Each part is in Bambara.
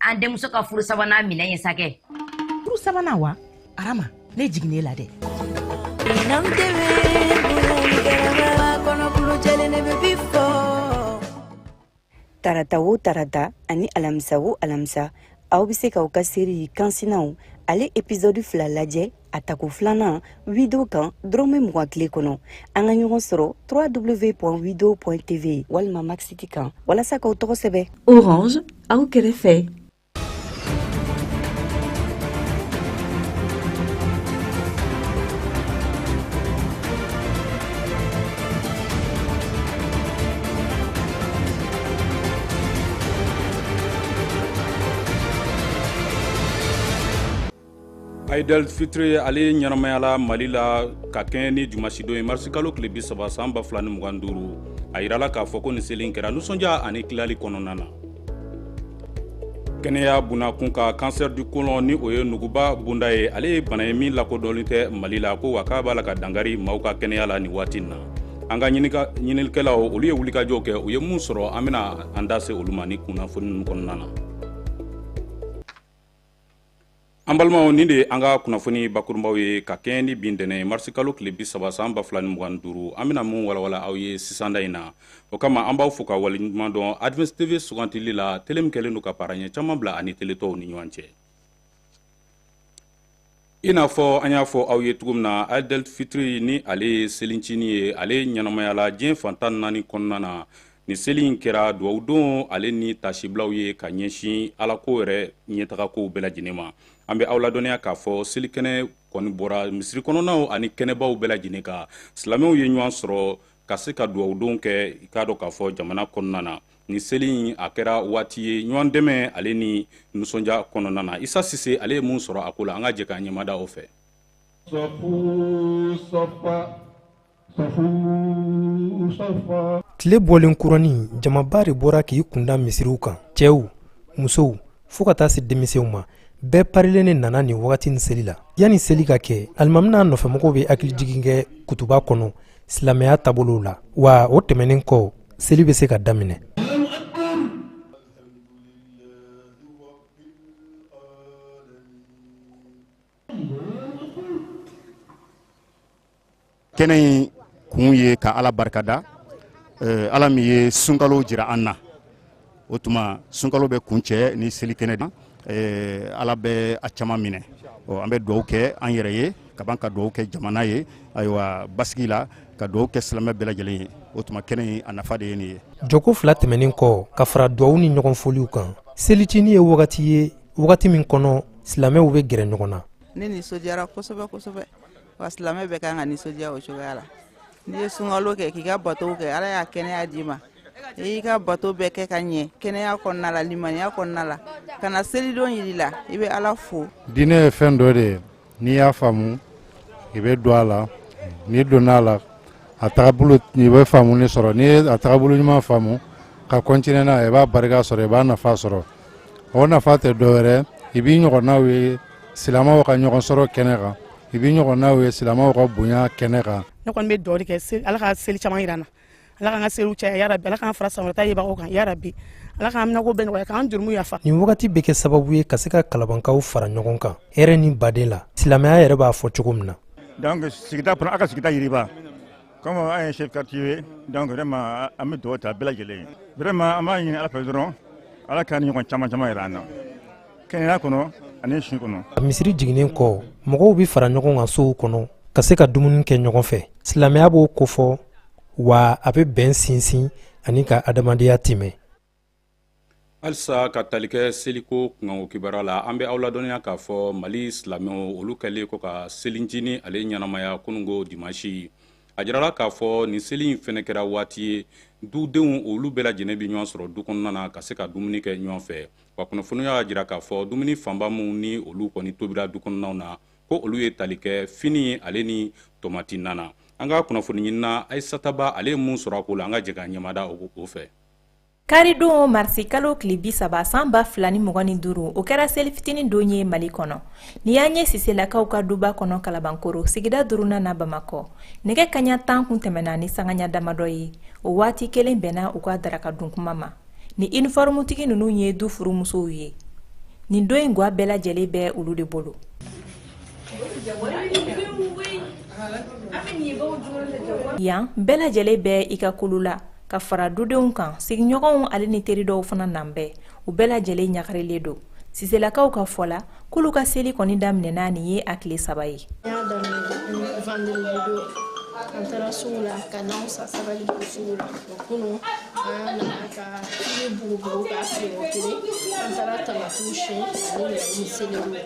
an denmuso ka furu sabanan minɛn ye sakɛ furu sabanan wa arama ne jiginnen la dɛ tarata wo tarata ani alamisa wo alamisa aw bɛ se k'aw ka seri kansinaw ale episɔdi fila lajɛ a tako filanan wido kan dɔrɔmɛ mugan tile kɔnɔ an ka ɲɔgɔn sɔrɔ www wido tv walima maxiti kan walasa k'aw tɔgɔ sɛbɛ orange aw kɛrɛfɛ Aidel Fitri ale ɲɛnamayala Mali la ka kɛɲɛ ni dimasidon ye marisikalo tile bi saba san ba fila ni mugan duuru a yirala k'a fɔ ko nin seli kɛra nisɔndiya ani tilali kɔnɔna na kɛnɛya bunakun ka kansɛri du kolon ni o ye nuguba bunda ye ale ye bana ye min lakodɔnlen tɛ mali la ko wa k'a b'a la ka dankari maaw ka kɛnɛya la nin waati na an ka ɲininikɛlaw olu ye wulikajɔw kɛ u ye mun sɔrɔ an bɛna an da se olu ma nin kunnafoni ninnu kɔnɔna na an balimaw nin de ye an ka kunnafoni bakurunbaw ye ka kɛɲɛ ni bi ntɛnɛn marisikalo tile bi saba san ba fila ni mugan duuru an bɛna min walawala aw ye sisanda in na o kama an b'aw fo ka waleɲuman dɔn advance tv sugandili la tele min kɛlen don ka paara ɲɛ caman bila a ni tele tɔw ni ɲɔgɔn cɛ i n'a fɔ an y'a fɔ aw ye cogo min na aidel fitiri ni ale ye selincini ye ale ɲɛnamayala diɲɛ fan tan ni naani kɔnɔna na nin seli in kɛra dugawudon ale ni taasibilaw ye ka ɲɛsin alako yɛrɛ ɲɛtagakow bɛɛ lajɛlen ma an bɛ aw ladɔnniya k'a fɔ selikɛnɛ kɔni bɔra misiri kɔnɔnaw ani kɛnɛbaw bɛɛ lajɛlen kan silamɛw ye ɲɔgɔn sɔrɔ ka se ka dugawudon kɛ i k'a dɔn k'a fɔ jamana kɔnɔna na nin seli in a kɛra waati ye ɲɔgɔn dɛmɛ ale ni nisɔndiya kɔnɔna na isa sise ale ye mun sɔrɔ a ko la an ka jɛ k'an ɲɛmada o fɛ tile bɔlen kurani jamaba de bɔra k'i kunda misiriw kan cɛw musow fo ka taa se denmisɛnw ma bɛɛ parilen ne nana nin wagati ni seli la yanni seli ka kɛ alimami n'a nɔfɛmɔgɔw bɛ hakilijigin kɛ kutuba kɔnɔ silamɛya taabolow la wa o tɛmɛnen kɔ seli bɛ se ka daminɛ kɛnɛ in kun ye ka ala barikada eh, ala min ye sunkalo jira an na o tuma sunkalo bɛ kuncɛ ni seli kɛnɛ de eh, ala bɛ a caman minɛ an bɛ dugawu kɛ an yɛrɛ ye ka ban ka dugawu kɛ jamana ye ayiwa basigi la ka dugawu kɛ silamɛ bɛɛ lajɛlen ye o tuma kɛnɛ in a nafa de ye nin ye jɔko fila tɛmɛnen kɔ ka fara dugawu ni ɲɔgɔn foliw kan selicinin ye wagati ye wagati min kɔnɔ silamɛw bɛ gɛrɛ ɲɔgɔn na ne nisɔndiyara kosɛbɛ kosɛbɛ wa silamɛ bɛɛ kan ka nisɔndiya o cogoya la n'i ye sunkalo kɛ k'i ka batow kɛ ala y'a kɛnɛya d'i ma i y'i ka bato bɛɛ kɛ ka ɲɛ kɛnɛya kɔnɔna la limaniya kɔnɔna la ka na selidon yira i la i bɛ ala fo diinɛ ye fɛn dɔ de ye n'i y'a faamu i bɛ don a la n'i donna a la a tagabolo i bɛ faamuni sɔrɔ n'i ye a tagabolo ɲuman faamu ka continuer n'a ye i b'a barika sɔrɔ i b'a nafa sɔrɔ o nafa tɛ dɔwɛrɛ i b'i ɲɔgɔnnaw ye silamɛw ka ɲɔgɔn sɔrɔ kɛnɛ kan i b'i ɲɔgɔnnaw ye silamɛw ka bonya kɛnɛ kan ne kɔni bɛ dugawu kɛ ala ka seli caman yira an na ala k'an ka seliw caya ya rabi ala k'an fara san wɛrɛ ta yebagaw kan ya rabi ala k'an minɛko bɛɛ nɔgɔya k'an jurumu yafa nin wagati bɛ kɛ sababu ye ka se ka kalabankaw fara ɲɔgɔn kan hɛrɛ ni badenya la silamɛya yɛrɛ b'a fɔ cogo min na donc sigida kɔnɔ a ka sigida yiriwa Comme an ye chef quartier ye, donc vraiment, an bɛ dugawu ta bɛɛ lajɛlen ye. Vraiment, an b'a ɲini Ala fɛ dɔrɔn, Ala ka nin ɲɔgɔn caman caman yira an na. Kɛnɛya kɔnɔ, ani si kɔnɔ. Misiri jiginnen kɔ, mɔgɔw bɛ fara ɲɔgɔn kan sow kɔnɔ ka se ka dumuni kɛ ɲɔgɔn fɛ. Silamɛya b'o kofɔ wa a bɛ bɛn sinsin ani ka adamadenya timɛ. halisa ka tali kɛ seliko kunkanko kibaruya la an bɛ aw ladɔnniya k'a fɔ mali silamɛw olu kɛlen kɔ ka selicinin ale ɲɛnamaya kununko dimansi a jirala k'a fɔ nin seli in fɛnɛ kɛra waati ye dudenw olu bɛɛ lajɛlen bɛ ɲɔgɔn sɔrɔ du kɔnɔna na ka se ka dumuni kɛ ɲɔgɔn fɛ wa kunnafoniw y'a jira k'a fɔ dumuni fanba minw ni olu kɔni tobira du kɔnɔnaw na ko olu ye tali kɛ fini ale ni tomati na na an ka kunnafoni ɲinina ayisataba ale ye mun sɔrɔ a ko la an ka jɛ ka ɲɛmada o fɛ Karidon marisi kalo tile bi saba san ba fila ni mugan ni duuru o kɛra seli fitinin don ye mali kɔnɔ nin y'an ye siselakaw ka duba kɔnɔ kalabankura sigida duurunan na bamakɔ nɛgɛ kaɲa tan kun tɛmɛna ni sangaya damadɔ ye o waati kelen bɛnna u ka daraka dun kuma ma nin inifɔrɔmutigi ninnu ye du furumusow ye nin don in ga bɛɛ lajɛlen bɛ olu de bolo yan bɛɛ lajɛlen bɛ i ka kulu la ka fara dudenw kan sigiɲɔgɔnw ale ni teri dɔw fana nanen bɛ u bɛɛ lajɛlen ɲagarilen don siselakaw ka fɔ la k'olu ka seli kɔni daminɛna nin ye a tile saba ye an taara sugu la ka nanw san sabalibugu sugu la o kunun an nana ka fini bugubugu k'a feere kelen an taara tamatiw siyɛn ani ɲɛni seleriw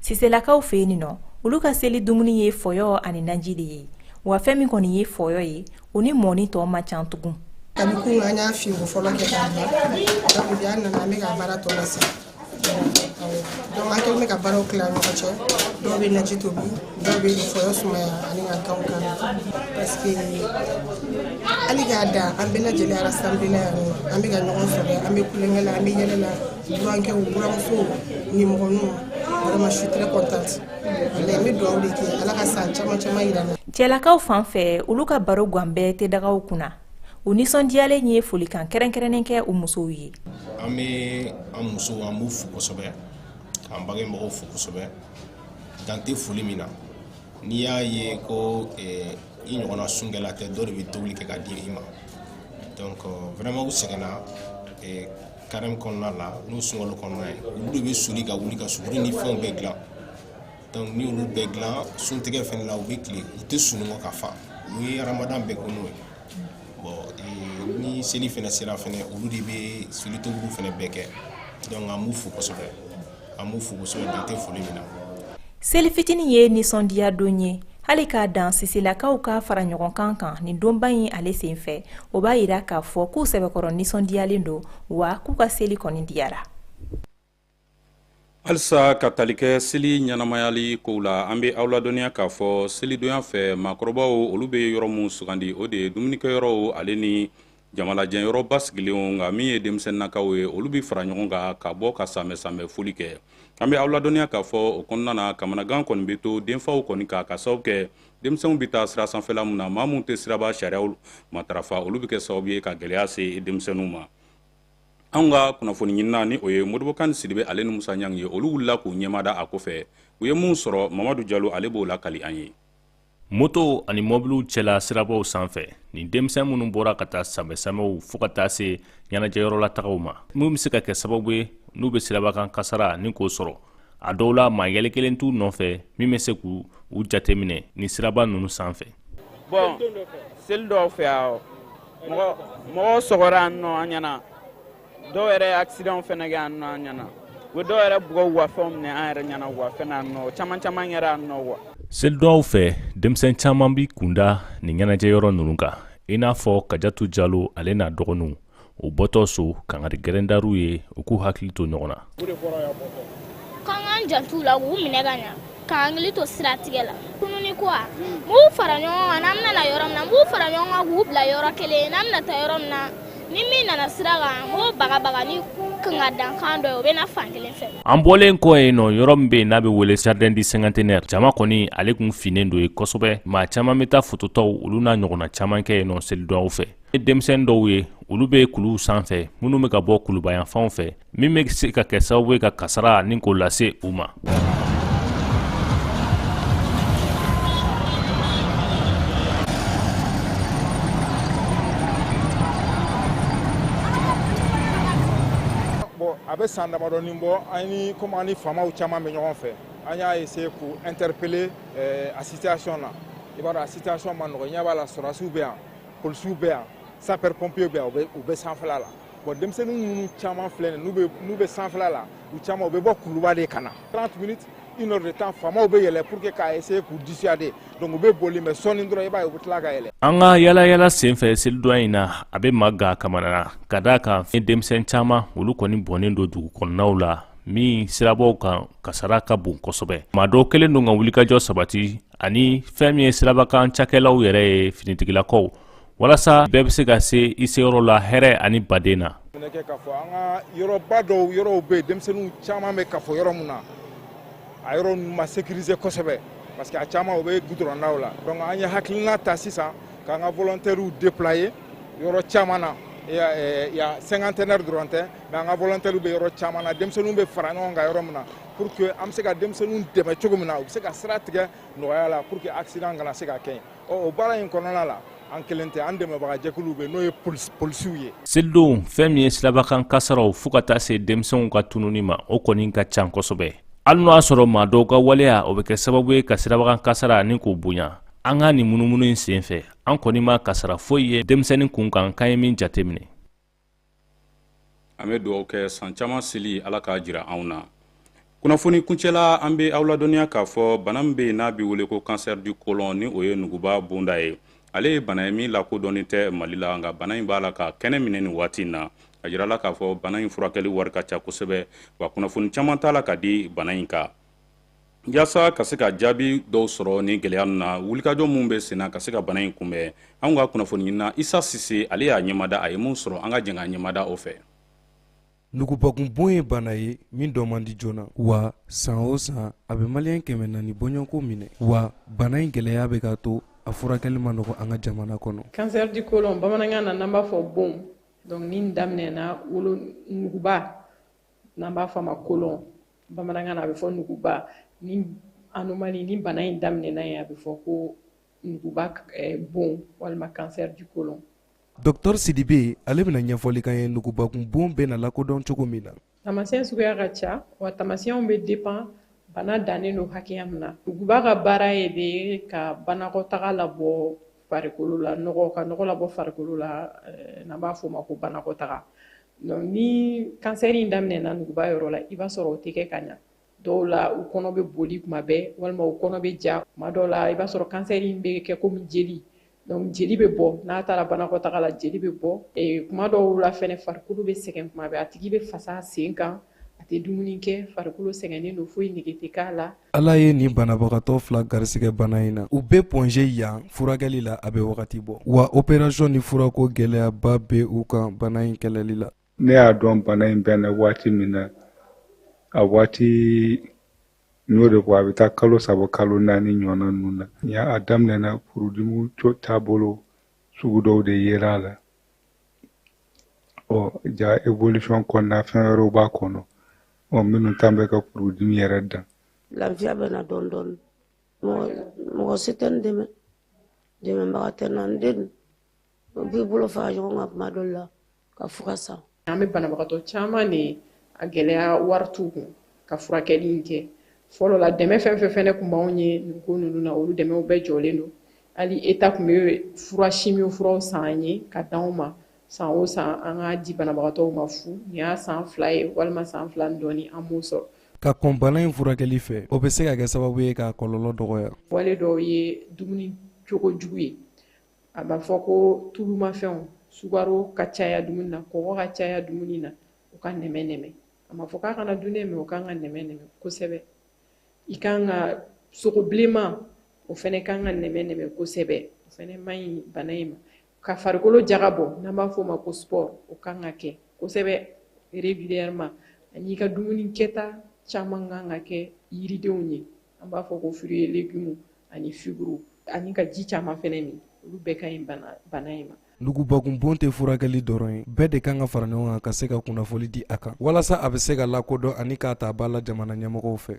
siselakaw fɛ yen nɔ olu ka seli dumuni ye fɔyɔ ani naji de ye wa fɛn min kɔni ye fɔyɔ ye o ni mɔni tɔ man can tugun kabi kunun an y'a fiye ko fɔlɔ kɛ k'a bila donc bi an nana an bɛ ka baara tɔ la sa donc an kɛlen bɛ ka baaraw tila an ɲɔgɔn cɛ dɔw bɛ naji tobi dɔw bɛ fɔyɔ sumaya ani ka kanw kan parce que hali k'a da an bɛɛ lajɛlen arasanbilelen yan an bɛ ka ɲɔgɔn sɔrɔ an bɛ tulonkɛ la an bɛ yɛlɛ la Burankɛw buranmusow nimɔgɔninw vraiment je suis très contente n bɛ dugawu de kɛ ala ka san caman caman jira an na cɛlakaw fan fɛ olu ka baro gan bɛɛ tɛ dagaw kunna u nisɔndiyalen ye folikan kɛrɛnkɛrɛnnen kɛ u musow ye an bɛ an musow an b'u fo kosɛbɛ k'an bangebagaw fo kosɛbɛ dan tɛ foli min na n'i y'a ye ko i ɲɔgɔnna sunkɛla tɛ dɔ de bɛ tobili kɛ ka di i ma donc vraiment u sɛgɛnna carême kɔnɔna la n'o sunkalo kɔnɔna ye olu de bɛ soli ka wuli ka suguri ni fɛnw bɛɛ dilan donc ni olu bɛɛ dilan suntigɛ fɛnɛ la u bɛ tile u tɛ sunɔgɔ ka fa u ye ramadan bɛɛ ko n'o ye bon ni seli fɛnɛ sera fɛnɛ olu de bɛ seli tobili fɛnɛ bɛɛ kɛ donc an b'u fo kosɛbɛ an b'u fo kosɛbɛ dan tɛ foli min na seli fitinin ye nisɔndiya don ye hali k'a dan siselakaw ka fara ɲɔgɔn kan kan nin donba in ale sen fɛ o b'a yira k'a fɔ k'u sɛbɛkɔrɔ nisɔndiyalen don wa k'u ka seli kɔni diyara halisa ka tali kɛ seli ɲɛnamayali kow la an bɛ aw ladɔnniya k'a fɔ selidonya fɛ maakɔrɔbaw olu bɛ yɔrɔ min sugandi o de ye dumunikɛyɔrɔw ale ni jamalajɛyɔrɔ basigilenw nka min ye denmisɛnninakaw ye olu bɛ fara ɲɔgɔn kan ka bɔ ka sanbɛsanbɛ foli kɛ an bɛ aw ladɔnniya k'a fɔ o kɔnɔna na kamanagan kɔni bɛ to denfaw kɔni kan ka sababu kɛ denmisɛnw bɛ taa sira sanfɛla min na maa minnu tɛ siraba sariyaw matarafa olu bɛ kɛ sababu ye ka gɛlɛya se denmisɛnninw ma anw ka kunnafoni ɲinina ni o ye modibo kane sidibe ale ni musa ɲang ye olu wulila k'u ɲɛmada a ko fɛ u ye minnu sɔrɔ mamadu jalo ale b'o lakali an ye moto ani mobiliw cɛla sirabaw sanfɛ nin denmisɛn minnu bɔra ka taa samɛsamɛw fo ka taa se ɲɛnajɛyɔrɔlatagaw ma min be se ka kɛ sababu ye n'u be siraba kan kasara ni k'o sɔrɔ a dɔw la maa yɛlɛ kelen t'u nɔfɛ min be se k'u jateminɛ ni siraba nunu sanfɛ bon seli dɔw fɛ yan mɔgɔ sɔgɔra yan nɔ an ɲɛna dɔw yɛrɛ ye accident fɛnɛ kɛ yan nɔ an ɲɛna u bɛ dɔw yɛrɛ bugɔ u ka fɛnw minɛ an yɛrɛ ɲɛna u ka fɛn na nɔ caman caman kɛra yan nɔ wa selidonyaw fɛ denmisɛn caman b'i kunda nin ɲɛnajɛ yɔrɔ ninnu kan i n'a fɔ kajatu jalo ale n'a dɔgɔninw u bɔtɔ so kangari gɛlɛn dara u ye u k'u hakili to ɲɔgɔn na K'an k'an janto u la k'u minɛ ka ɲɛ k'an hakili to siratigɛ la tununi ko b'u fara ɲɔgɔn kan an bɛna yɔrɔ min b'u fara ɲɔgɔn kan k'u bila yɔrɔ kelen an bɛna taa yɔrɔ min na ni min nana sira k'o bagabaga ni kan ka dankan dɔ ye o bɛ fan kelen fɛ an bɔlen kɔ yen nɔ yɔrɔ min bɛ yen n'a bɛ wele jardin du cinquantenaire jama kɔni ale tun finen don ye kosɛbɛ maa caman bɛ taa fototaw olu n'a ɲɔgɔnna caman kɛ yen nɔ selidonyaw fɛ ni denmisɛn dɔw ye olu bɛ kuluw sanfɛ minnu bɛ ka bɔ kuluba yanfanw fɛ min bɛ se ka kɛ sababu ye ka kasara ni k'o lase u ma a bɛ san damadɔni bɔ an ni komi an ni faamaw caman bɛ ɲɔgɔn fɛ an y'a essayer k'u interpeller eh, a situation na i b'a dɔn a situation ma nɔgɔ ɲɛ b'a la sɔrɔdasiw bɛ yan polisiw bɛ yan sapeur pompier bɛ yan u bɛ sanfɛla la bon denmisɛnnin ninnu caman filɛ nin n'u bɛ sanfɛla la u caman u bɛ bɔ kuluba de ka na 30 minutes une heure de temps faamaw bɛ yɛlɛ pour que k'a essayer k'u dissuader donc u bɛ boli mais sɔɔni dɔrɔn i b'a ye u bɛ tila ka yɛlɛ. an ka yalayala senfɛ selidonya in na a bɛ maa gan kamana na ka d'a kan fɛn denmisɛn caman olu kɔni bɔnnen don dugu kɔnɔnaw la min sirabaw kan kasara ka bon kosɛbɛ maa dɔw kɛlen don ka wulikajɔ sabati ani fɛn min ye sirabakan cakɛlaw yɛrɛ ye finitigilakaw walasa bɛɛ bɛ se ka se i seyɔrɔ la hɛrɛ ani baden na kɛ k'a fɔ an ka yɔrɔba dɔw yɔrɔw bɛ yen denmisɛnninw caman bɛ kafo yɔrɔ min na a yɔrɔ ninnu ma sécuriser kosɛbɛ parce que a caman o bɛ gudɔrɔndaw la donc an ye hakilina ta sisan k'an ka volontaires déployer yɔrɔ caman na yan cinquantenaire dɔrɔn tɛ mais an ka volontaires bɛ yɔrɔ caman na denmisɛnninw bɛ fara ɲɔgɔn kan yɔrɔ min na pour que an bɛ se ka denmisɛnninw dɛmɛ cogo min na u bɛ se ka sira tigɛ nɔgɔya la pour que accident kana se ka kɛ yen ɔ o baara in kɔnɔna la an kelen tɛ an dɛmɛbaga jɛkuluw bɛ n'o ye polisiw ye selidonw fɛn min ye sirabakan kasaraw fo ka taa se denmisɛnw ka tununi ma o kɔni ka can kosɛbɛ hali n'o y'a sɔrɔ maa dɔw ka waleya o bɛ kɛ sababu ye ka sirabakan kasara ni k'o bonya an ka nin munumunu in senfɛ an kɔni ma kasara foyi ye denmisɛnnin kun kan k'an ye min jateminɛ an bɛ dugawu kɛ san caman seli ala k'a jira anw na kunnafoni kuncɛla an bɛ aw ladɔnniya k'a fɔ bana min bɛ yen n'a bɛ wele ko cancer du côlon ni o ye nuguba bonda ye ale ye bana ye min lakodɔnnen tɛ mali la nka bana in b'a la ka kɛnɛ minɛ nin waati in na a jirala k'a fɔ bana in furakɛli wari ka ca kosɛbɛ wa kunnafoni caman t'a la ka di bana in kan Yasa ka se ka jaabi dɔw sɔrɔ nin gɛlɛya ninnu na wulikajɔ min bɛ sen na ka se ka bana in kunbɛn an ka kunnafoni ɲinina isa sise ale y'a ɲɛmada a ye mun sɔrɔ an ka jɛn k'a ɲɛmada o fɛ nugubakun bon ye bana ye min dɔn man di joona wa san o san a bɛ maliyɛn kɛmɛ naani bɔɲɔgɔnko minɛ wa bana in gɛlɛya bɛ ka to a furakɛli ma nɔgɔ an ka jamana kɔnɔ cancer du colon bamanankan na n'an b'a fɔ bon donc ni daminɛna wolo nuguba n'an b'a fɔ a ma colon bamanankan na a bɛ fɔ nuguba ni anomalie ni bana in daminɛna yen a bɛ fɔ ko nuguba eh, bon walima cancer du colon dɔktɔr sidibe ale bɛna ɲɛfɔli k'an ye nugubakun bon bɛna lakodɔn cogo min na tamasiyɛn suguya ka ca wa tamasiyɛnw bɛ dépend bana dannen don hakɛya min na nuguba ka baara ye de ka banakɔtaga labɔ farikolo la nɔgɔ ka nɔgɔ labɔ farikolo la eh, n'an b'a fɔ o ma ko banakɔtaga Donc ni kansɛri in daminɛna nuguba yɔrɔ la i b'a sɔrɔ o tɛ kɛ ka ɲa dɔw la u kɔnɔ bɛ boli kuma bɛɛ walima u kɔnɔ bɛ ja kuma dɔw la i b'a sɔrɔ kansɛri in bɛ kɛ komi jeli donc jeli bɛ bɔ n'a taara banakɔtaga la jeli bɛ bɔ kuma dɔw la fɛnɛ farikolo bɛ sɛgɛn kuma bɛɛ a tigi bɛ fasa sen kan a tɛ dumuni kɛ farikolo sɛgɛnnen don foyi nege tɛ k'a la ala ye nin banabagatɔ fila garisigɛ bana in na u bɛ Point G yan furakɛli la a bɛ wagati bɔ wa opération ni furako gɛlɛyaba bɛ u kan bana in kɛlɛli la ne y'a dɔn bana in bɛ n na waati min na a waati n y'o de fɔ a bɛ taa kalo saba kalo naani ɲɔgɔnna ninnu na ni a daminɛna furudimi taabolo sugu dɔw de yera a la ɔ jaa évolution kɔnɔna fɛn wɛrɛw b'a kɔnɔ ɔ minnu tan bɛ ka furudimi yɛrɛ dan lafiya bɛ na dɔɔni dɔɔni mɔgɔ si tɛ n dɛmɛ dɛmɛbaga tɛ n na n denw b'i bolo fara ɲɔgɔn kan kuma dɔ la ka fura san an bɛ banabagatɔ caman de a gɛlɛya wari t'u kun ka furakɛli in kɛ fɔlɔ la dɛmɛ fɛn fɛn fɛnɛ kun b'anw ye nin ko ninnu na olu dɛmɛw bɛɛ jɔlen don hali État kun bɛ fura chimio furaw san an ye ka d'anw ma san o san an ka di banabagatɔw ma fu nin y'a san fila ye walima san fila ni dɔɔni an m'o sɔrɔ ka kɔn bana in furakɛli fɛ o bɛ se ka kɛ sababu ye k'a kɔlɔlɔ dɔgɔya wale dɔw ye dumuni cogo jugu ye an b'a fɔ ko tulumafɛnw sukaro ka caya dumuni na kɔgɔ ka caya dumuni na u ka nɛmɛ nɛmɛ a ma fɔ k'a kana dun dɛ mais o kan ka nɛmɛ nɛmɛ kosɛbɛ i kan ka sogo bilenman o fɛnɛ kan ka nɛmɛ nɛmɛ kosɛbɛ o fɛnɛ man ɲi bana in ma ka farikolo jagabɔ n'an b'a fɔ o ma ko sport o kan ka kɛ kosɛbɛ régulièrement ani i ka dumuni kɛta caman kan ka kɛ yiridenw ye an b'a fɔ ko fruits et légumes ani fibres ani ka ji caman fɛnɛ min olu bɛɛ ka ɲi bana in ma nugubakunbon tɛ furakɛli dɔrɔn ye bɛɛ de kan ka fara ɲɔgɔn kan ka se ka kunnafoli di a kan walasa a bɛ se ka lakodɔn ani k'a ta ba la jamana ɲɛmɔgɔw fɛ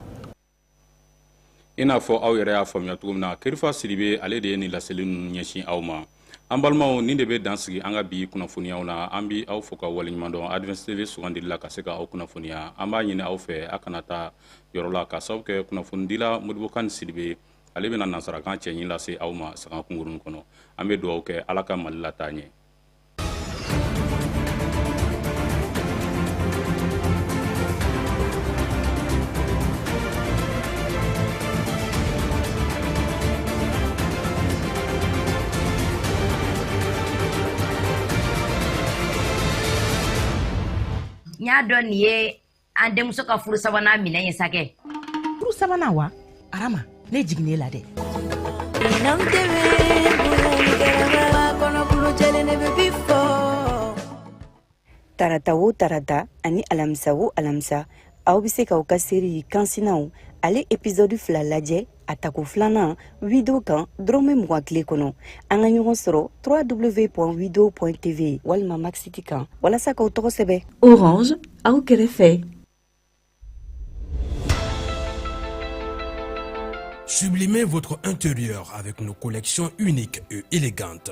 i n'a fɔ aw yɛrɛ y'a faamuya cogo min na kerifa sidibe ale de ye nin laseli ninnu ɲɛsin aw ma an balimaw nin de bɛ dan sigi an ka bi kunnafoniyaw na an bi aw fo ka waleɲuman dɔn advance tv sugandili la ka se ka aw kunnafoniya an b'a ɲini aw fɛ a kana taa yɔrɔ la k'a sababu kɛ kunnafonidila modibo kani sidibe ale bɛna nansarakan cɛɲi lase aw ma sanga kunkurunin kɔnɔ an bɛ dugawu kɛ ala ka mali lataa ɲɛ n y'a dɔn nin ye an denmuso ka furu sabanan minɛn ye sakɛ furu sabanan wa arama ne jiginn'e la dɛ tarata o tarata ani alamisa o alamisa aw be se k'aw ka seri kansinaw ale episɔdu fila lajɛ a tako filanan wido kan dɔrɔmɛ mugan tile kɔnɔ an ka ɲɔgɔn sɔrɔ www.wido.tv walima max it kan walasa k'aw tɔgɔ sɛbɛ orange aw kɛrɛfɛ Sublimez votre intérieur avec nos collections uniques et élégantes.